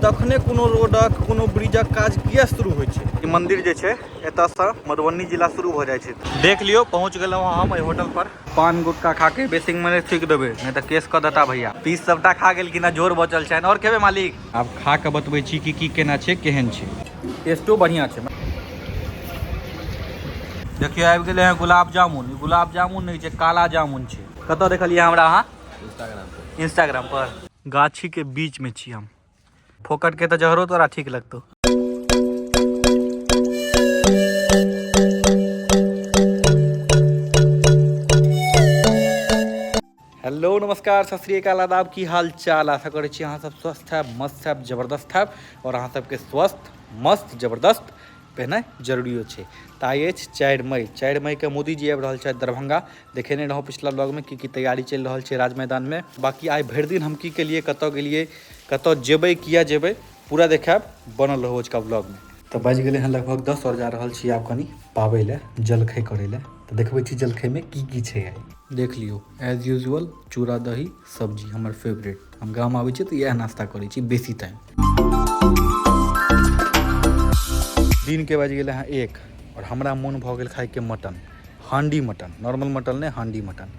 तखने कोनो रोडक कोनो ब्रिजक काज किया शुरू होइ छै ई मंदिर जे छै एतऽ से मधुबनी जिला शुरू भऽ जाइ छै देख लियो पहुंच गेलहुँ हँ हम एहि होटल पर पान गुटका खा के बेसिंग में थूक देबे नहीं तऽ केस कऽ देता भैया पीस सबटा खा गेल कि ना जोर बचल छै और खेबे मालिक आब खा के बतबै छी कि की केना छै केहन छै टेस्टो बढ़िया छै देखियो आबि गेलै हँ गुलाब जामुन गुलाब जामुन नहीं छै काला जामुन छै कतऽ देखलियै हमरा अहाँ इंस्टाग्राम पर इंस्टाग्राम पर गाछी के बीच में छी हम फोकट के तो जहरो तोरा ठीक लगतो हेलो नमस्कार सत श्री अकाल आदाब की हाल चाल आशा करै छी अहाँ सब स्वस्थ हैब मस्त हैब जबरदस्त हैब और अहाँ सबके स्वस्थ मस्त जबरदस्त पहनाइ जरूरियो छै तऽ आइ अछि चारि मई चारि मईके मोदीजी आबि रहल छथि दरभंगा देखेने रहौं पिछला ब्लॉग में की की तैयारी चलि रहल छै राज मैदान में बाकी आइ भरि दिन हम की केलिए कतौ गेलिए कतौ जेबै किया जेबै पूरा देखायब बनल रहौ आज का ब्लॉग में तऽ बाजि गेलै हँ लगभग दस और जा रहल छी आब कनी पाबै लए जलखै करै लए तऽ देखबै छी जलखै में की की छै आइ देख लियौ एज यूजुअल चूड़ा दही सब्जी हमर फेवरेट हम गाम आबै छी तऽ इएह नाश्ता करै छी बेसी टाइम दिनके बाजि गेलै हँ एक आओर हमरा मोन भऽ गेल खाइके मटन हांडी मटन नॉर्मल मटन नहि हांडी मटन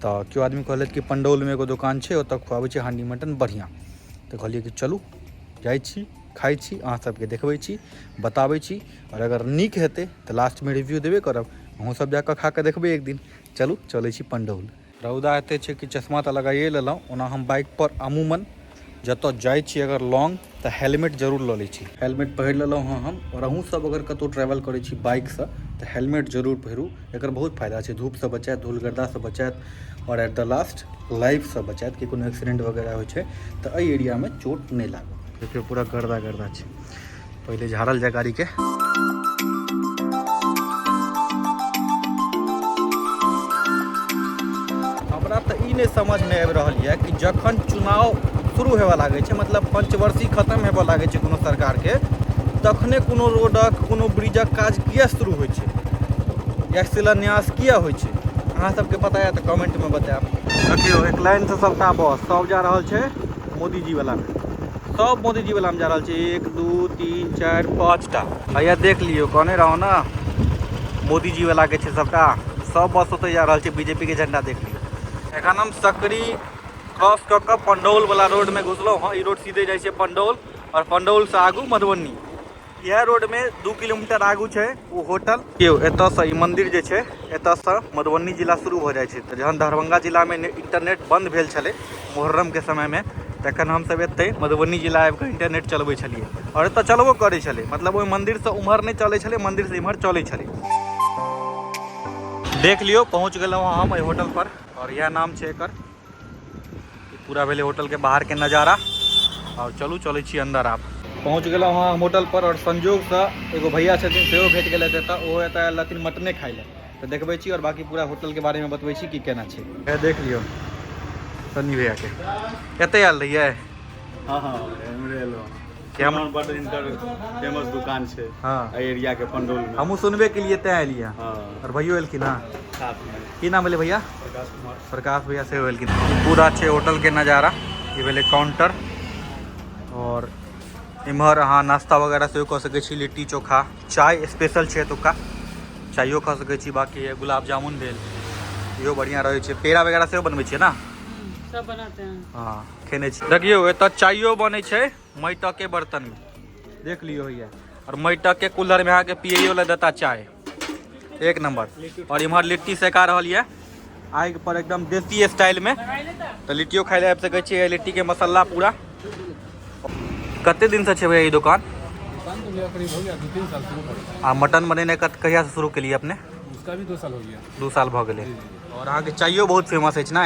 तऽ केओ आदमी कहलथि कि पण्डौलमे एगो दोकान छै ओतऽ खुआबै छै हांडी मटन बढ़िआँ तऽ कहलियै कि चलू जाइ छी खाइ छी अहाँ सबके देखबै छी बताबै छी आओर अगर नीक हेतै तऽ लास्टमे रिव्यू देबे करब अहूँ सब जाकऽ खा कऽ देखबै एक दिन चलू चलै छी पण्डौल रौदा एते छै कि चश्मा तऽ लगाइए लेलहुँ ओना हम बाइकपर अमूमन जतऽ जाइ छी अगर लॉन्ग तऽ हेलमेट जरूर लऽ लै छी हेलमेट पहिर लेलहुँ हँ हम आओर अहूँ सब अगर कतहु ट्रैवल करै छी बाइकसँ तऽ हेलमेट जरूर पहिरू एकर बहुत फायदा छै धूपसँ बचायत धूल गर्दासँ बचायत आओर एट द लास्ट लाइफसँ बचायत कि कोनो एक्सीडेंट वगैरह होइ छै तऽ एहि एरियामे चोट नहि लागत देखियौ पूरा गर्दा गर्दा छै पहिले झाड़ल जाए गाड़ीके हमरा तऽ ई नहि समझमे आबि रहल यऽ कि जखन चुनाव शुरू होबऽ लागै छै मतलब पंचवर्षी खतम होबऽ लागै छै कोनो सरकारके तखने कोनो रोडक कोनो ब्रिजक काज किए शुरू होइ छै या शिलान्यास किए होइ छै अहाँ सबके पता यऽ तऽ कमेंटमे बतायब देखियौ एक लाइनसँ सबटा बस सब जा रहल छै मोदीजी वाला में सब मोदीजी वाला में जा रहा है एक दू तीन चार पाँच टा भैया देख लियो कहने रहो ना मोदीजी वाला के सबटा सब बस होते जा रहा है बीजेपी के झंडा देख लियो एखन हम सकरी क्रॉस कऽ कऽ पंडौल वाला रोड में घुसलो हाँ रोड सीधे जाए पंडौल और पंडौल से आगू मधुबनी इएह रोड में दू किलोमीटर आगू छै ओ होटल यौ एतऽ से ई मंदिर जे छै एतऽ से मधुबनी जिला शुरू भऽ जाइ छै तऽ जहन दरभंगा जिला में इंटरनेट बंद भेल छलै मुहर्रम के समय में तखन हम सब एतै मधुबनी जिला आबि कऽ इंटरनेट चलबै छलियै आओर एतऽ चलबो करै छलै मतलब ओहि मंदिर से उम्हर नहि चलै छलै मंदिर से इम्हर चलै छलै देख लियौ पहुँच गेलहुँ हम एहि होटल पर आओर इएह नाम छै एकर पूरा भेलै होटलके बाहरके नजारा आओर चलू चलै छी अन्दर आब पहुँच गेलहुँ हँ होटलपर आओर संजोगसँ एगो भैया छथिन सेहो भेट गेलै एतऽ ओहो एतऽ आयल रहथिन मटने खाइ लए तऽ देखबै छी आओर बाकी पूरा होटलके बारेमे बतबै छी कि केना छै इएह देख लियौ सन्नी भैयाके एतऽ आयल रहियै हँ हँ एमरे एलहुँ कैमरन बड इनकर फेमस दुकान छै हाँ एहि एरिया के पंडोल में हमहूँ सुनबे के लिए तैं एलियै हाँ और भैयो एलखिन हँ साथ में की नाम भेलै भैया प्रकाश कुमार प्रकाश भैया से एलखिन पूरा छै होटल के नज़ारा ये भेलै काउंटर और इम्हर अहाँ नाश्ता वगैरह सेहो कऽ सकै छी लिट्टी चोखा चाय स्पेशल छै एतुका चायो खा सकै छी बाकी गुलाब जामुन भेल इहो बढ़िआँ रहै छै पेड़ा वगैरह सेहो बनबै छियै ने सब बनाते हैं हाँ खेने छी देखियौ एतऽ चाइयो बनै छै माटिके बर्तनमे देख लियौ होइए आओर माटिके कूलरमे अहाँके पियैयो लए देता चाय एक नंबर आओर इम्हर लिट्टी सेका रहल यऽ आगि पर एकदम देसी स्टाइलमे तऽ लिट्टियो खाइ लए आबि सकै छियै लिट्टीके मसाला पूरा कते दिनसँ छै भैया ई दोकान आ मटन बनेने कत कहियासँ शुरू केलियै अपने उसका भी दो साल हो गया दू साल भऽ गेलै आओर अहाँके चाइयो बहुत फेमस अछि ने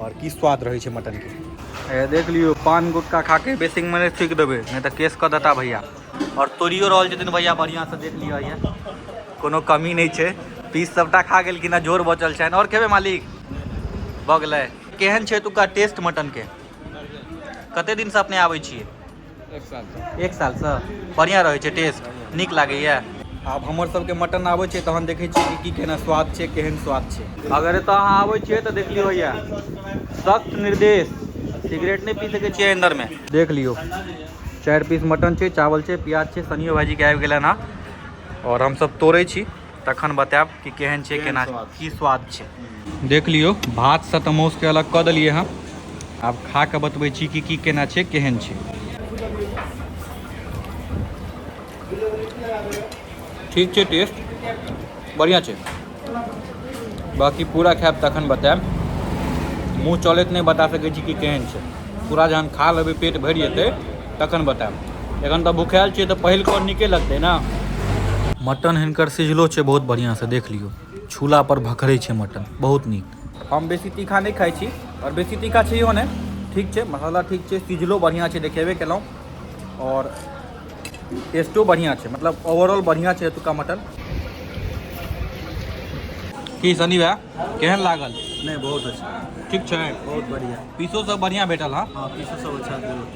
और की स्वाद रहे छै मटन के देख लियो पान गुटका खा के बेसिंग में नहीं थूक देवे नहीं तो केस कर देता भैया और तोड़ियो रहल छथिन भैया बढ़िया से देख लियो ये कोनो कमी नहीं छै पीस सबटा खा गेल कि ना जोर बचल छै और खेबे मालिक भऽ गेलै केहन छै एतुका टेस्ट मटन के कते दिन से अपने आबै छियै एक साल एक सालसँ बढ़िआँ रहै छै टेस्ट नीक लागैए आब हमर सबके मटन आबै छै तहन देखै छियै कि की केना स्वाद छै केहन स्वाद छै अगर एतऽ अहाँ आबै छियै तऽ देख लियौ होइए सख्त निर्देश सिगरेट नहि पी सकै छियै अन्दरमे देख लियौ चारि पीस मटन छै चावल छै प्याज छै सनियो भाजीके आबि गेलनि हँ आओर हमसब तोड़ै छी तखन बतायब कि केहन छै केना की स्वाद छै देख लियौ भात से तऽ मौस के अलग कऽ देलियै हँ आब खा कऽ बतबै छी कि की केना छै केहन छै ठीक छै टेस्ट बढ़िया छै बाकी पूरा खायब तखन बतायब मुँह चलैत नहि बता सकै छी कि केहन छै पूरा जहन खा लेबै पेट भरि जेतै तखन बतायब एखन तऽ भुखायल छियै तऽ पहिल कॉल नीके लगतै ने मटन हिनकर सिझलो छै बहुत बढ़िआँसँ देख लियौ छूलापर भखरै छै मटन बहुत नीक हम बेसी तीखा नहि खाइ छी आओर बेसी तीखा छैहो नहि ठीक छै मसाला ठीक छै सिझलो बढ़िआँ छै देखेबे केलहुँ आओर टेस्टो बढ़िआँ छै मतलब ओवरऑल बढ़िआँ छै एतुका मटन की सनी भैया केहन लागल नहि बहुत अच्छा ठीक छै बहुत बढ़िया पीसो सब बढ़िया भेटल हँ हाँ पीसो सब अच्छा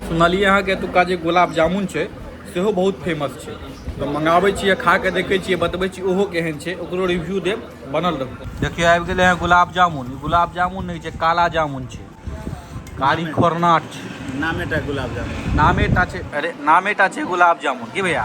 सुनलियै अहाँके एतुका जे गुलाब जामुन छै सेहो बहुत फेमस छै तऽ मंगाबै छियै खा कऽ देखै छियै बतबै छी ओहो केहन छै ओकरो रिव्यू देब बनल रहू देखियौ आबि गेलै हँ गुलाब जामुन ई गुलाब जामुन नहि छै काला जामुन छै कारी खोरनाट छै नामे टा गुलाब जामुन नामे टा छै अरे नामे टा छै गुलाब जामुन की भैया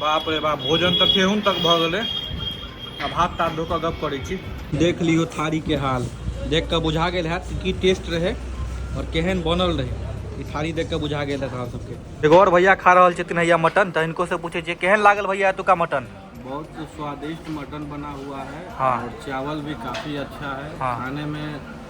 बाप रे बाप भोजन तऽ केहून तक भऽ गेलै आब हाथ ताथ धो कऽ गप करै छी देख लियौ थारीके हाल देख कऽ बुझा गेल हैत कि की टेस्ट रहै आओर केहन बनल रहै ई थारी देख कऽ बुझा गेल हैत अहाँ सबके एगो आओर भैया खा रहल छथिन हैया मटन तऽ हिनको से पूछै छियै केहन लागल भैया एतुका मटन बहुत स्वादिष्ट मटन बना हुआ है हाँ। और चावल भी काफी अच्छा है हाँ। खाने में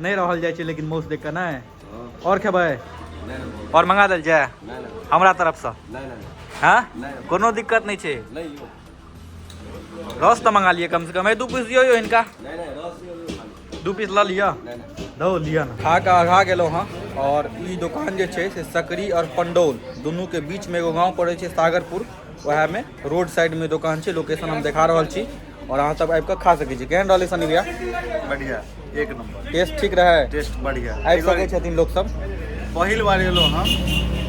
नहि रहल जाइ छै लेकिन मौस देख कऽ नहि आओर खेबै आओर मंगा देल जाय हमरा तरफसँ हँ कोनो दिक्कत नहि छै रस तऽ मंगा लिअ कमसँ कम दू पीस दियौ यौ हिनका दू पीस लऽ लिअ धो लिअ ने खा कऽ आघा गेलहुँ हँ आओर ई दोकान जे छै से सकरी आओर पंडौल दुनूके बीचमे एगो गाँव पड़ै छै सागरपुर ओएहमे रोड साइडमे दोकान छै लोकेशन हम देखा रहल छी और अहाँ सब आबि कऽ खा सकै छी केहन रहलै सनी भैया बढ़िया एक नंबर टेस्ट ठीक रहै टेस्ट बढ़िया आबि सकै छथिन लोक सब पहिल बार एलहुँ हम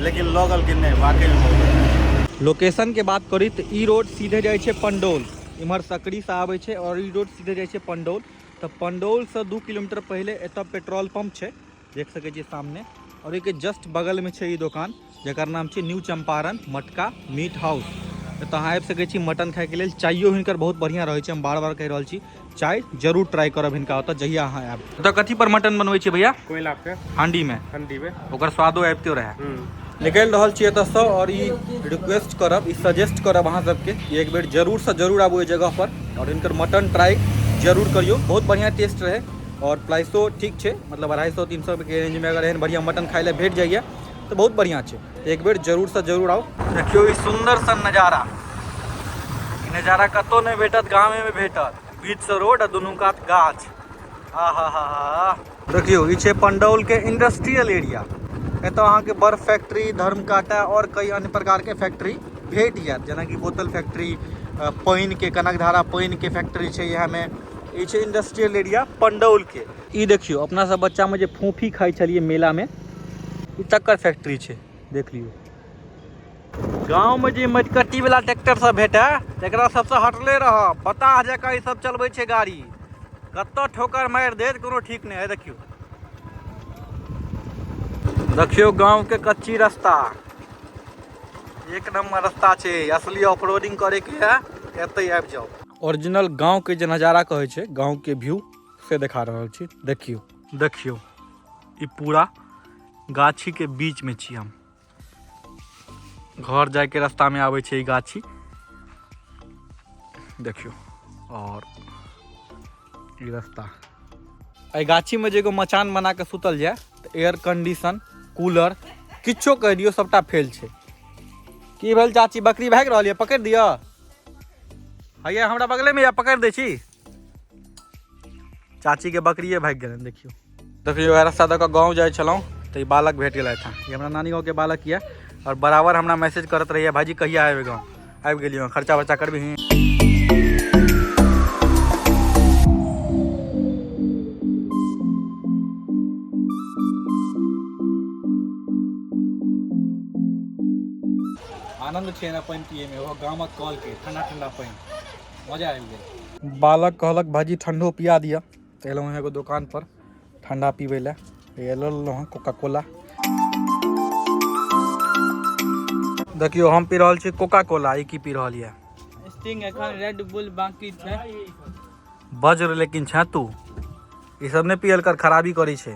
लेकिन लगल कि नहि वाकई में बहुत बढ़िया। लोकेशन के बात करी तऽ ई रोड सीधे जाइ छै पंडौल इम्हर सकरी से आबै छै और ई रोड सीधे जाइ छै पंडौल तऽ पंडौल से दू किलोमीटर पहिले एतऽ पेट्रोल पंप छै देख सके छे सामने और एक जस्ट बगल में छे ये दुकान जर नाम छे न्यू चंपारण मटका मीट हाउस तो अहाँ आबि सके मटन खाए के लिए चायो हिनकर बहुत बढ़िया रहे हम बार बार कह रहा छी चाय जरूर ट्राई करब हिनका ओतऽ जहिया अहाँ आयब तो कथी पर मटन बनवे छे भैया कोयला पे हांडी में हांडी में ओकर स्वादो आबितो रहे हम्म। निकल रहा छे एत से और ये रिक्वेस्ट करब ये सजेस्ट करब अहाँ सबके एक बेर जरूर से जरूर आबू जगह पर और इनकर मटन ट्राई जरूर करियो बहुत बढ़िया टेस्ट रहे आओर प्राइसो ठीक छै मतलब अढ़ाइ सए तीन सएके रेंजमे अगर एहन बढ़िआँ मटन खाइ लए भेट जाइए तऽ बहुत बढ़िआँ छै एक बेर जरूरसँ जरूर आउ देखियौ ई सुन्दर सन नजारा ई नजारा कतहु नहि भेटत गामेमे भेटत बीचसँ रोड आ दुनू कात गाछ आ हा हा हा देखियौ ई छै पण्डौलके इंडस्ट्रियल एरिया एतय अहाँके बड़ फैक्ट्री धर्मकाटा आओर कई अन्य प्रकारके फैक्ट्री भेट जायत जेनाकि बोतल फैक्ट्री पानिके कनकधारा पानिके फैक्ट्री छै इएहमे ई छै इंडस्ट्रियल एरिया पंडौलके ई देखियौ अपना सब बच्चामे जे फूफी खाइ छलियै मेलामे ई तकर फैक्ट्री छै देख लियौ गाँवमे जे मटकट्टीवला ट्रैक्टर सब भेटै तकरा सबसँ हटले रहऽ पता जकाँ ई सब चलबै छै गाड़ी कतऽ ठोकर मारि देत कोनो ठीक नहि है देखियौ देखियौ गाँवके कच्ची रास्ता एक नंबर रास्ता छै असली ऑफ रोडिंग करे के है एते आबि जाओ ओरिजिनल गांव के जे नजारा कहे छै गांव के व्यू से दिखा रहल छी देखियो देखियो ई पूरा गाछी के बीच में छी हम घर जाए के रास्ता में आवे छै ई गाछी देखियो और ई रास्ता एहि गाछीमे जे एगो मचान बना कऽ सुतल जाय तऽ एयर कंडीशन कूलर किछो कहि दियौ सभटा फेल छै की भेल चाची बकरी भागि रहल यऽ पकड़ि दिअ हैया हमरा बगलेमे यऽ पकड़ि दै छी चाचीके बकरिए भागि गेलनि देखियौ देखियौ वएह रास्ता दऽ कऽ गाँव जाइ छलहुँ तऽ ई बालक भेट गेलथि हँ ई हमरा नानी गाँवके बालक यऽ आओर बराबर हमरा मैसेज करत रहैए भाईजी कहिया आबि गाँव आबि गेलियै हँ खर्चा वर्चा करबिही आनन्द छै ने पानि पियैमे ओहो गामक कलके ठंडा ठंडा पानि मजा आबि गेल बालक कहलक भाजी ठंडो पिया दिअ तऽ एलहुँ हँ एगो दोकान पर ठण्डा पीबै लए लऽ लेलहुँ हँ कोका कोला देखियौ हम पी रहल छी कोका कोला ई की पी रहल यऽ स्टिंग एखन रेड बुल बाकी छै बज्र लेकिन छे तू ई सब नहि पियल कर खराबी करै छै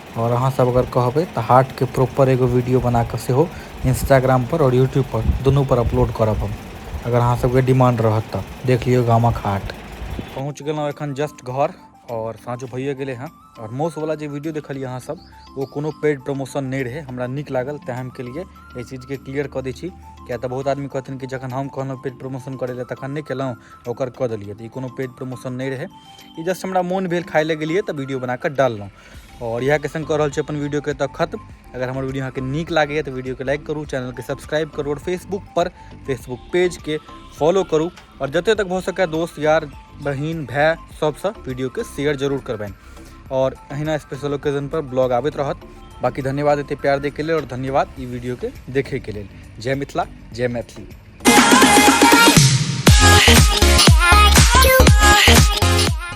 आओर अहाँ सब अगर कहबै तऽ हाट के प्रॉपर एगो वीडियो बना के सेहो इंस्टाग्राम पर आओर यूट्यूब पर दुनू पर अपलोड करब हम अगर अहाँ सब के डिमांड रहत तऽ देख लियो गामक हाट पहुंच गेलहुं एखन जस्ट घर और साँझो भइए गेले हैं और मौस वाला जे वीडियो देखलिए अहाँ सब वो कोनो पेड प्रमोशन नहीं रहे हमरा निक लागल तैं हम के लिए एहि चीज के क्लियर क दै छी किया तऽ बहुत आदमी कहथिन कि जखन हम कहलहुँ पेड प्रमोशन करे ले तखन नहीं केलहुँ ओकर क देलिए तऽ ई कोनो पेड प्रमोशन नहीं रहे ई जस्ट हमरा मोन भेल खाय ले गेलिए तऽ वीडियो बना के डाललहुँ आओर इएहके सङ्ग कऽ रहल छी अपन वीडियोके एतऽ खत्म अगर हमर वीडियो अहाँके नीक लागैए तऽ वीडियोके लाइक करू चैनलके सब्सक्राइब करू आओर फेसबुकपर फेसबुक पेजके फॉलो करू आओर जतेक तक भऽ सकए दोस्त यार बहिन भाय सभसँ वीडियोके शेयर जरूर करबनि आओर अहिना स्पेशल ओकेजनपर ब्लॉग आबैत रहत बाकी धन्यवाद एते प्यार दैके लेल आओर धन्यवाद ई वीडियोके देखैके लेल जय मिथिला जय मैथिली Yeah.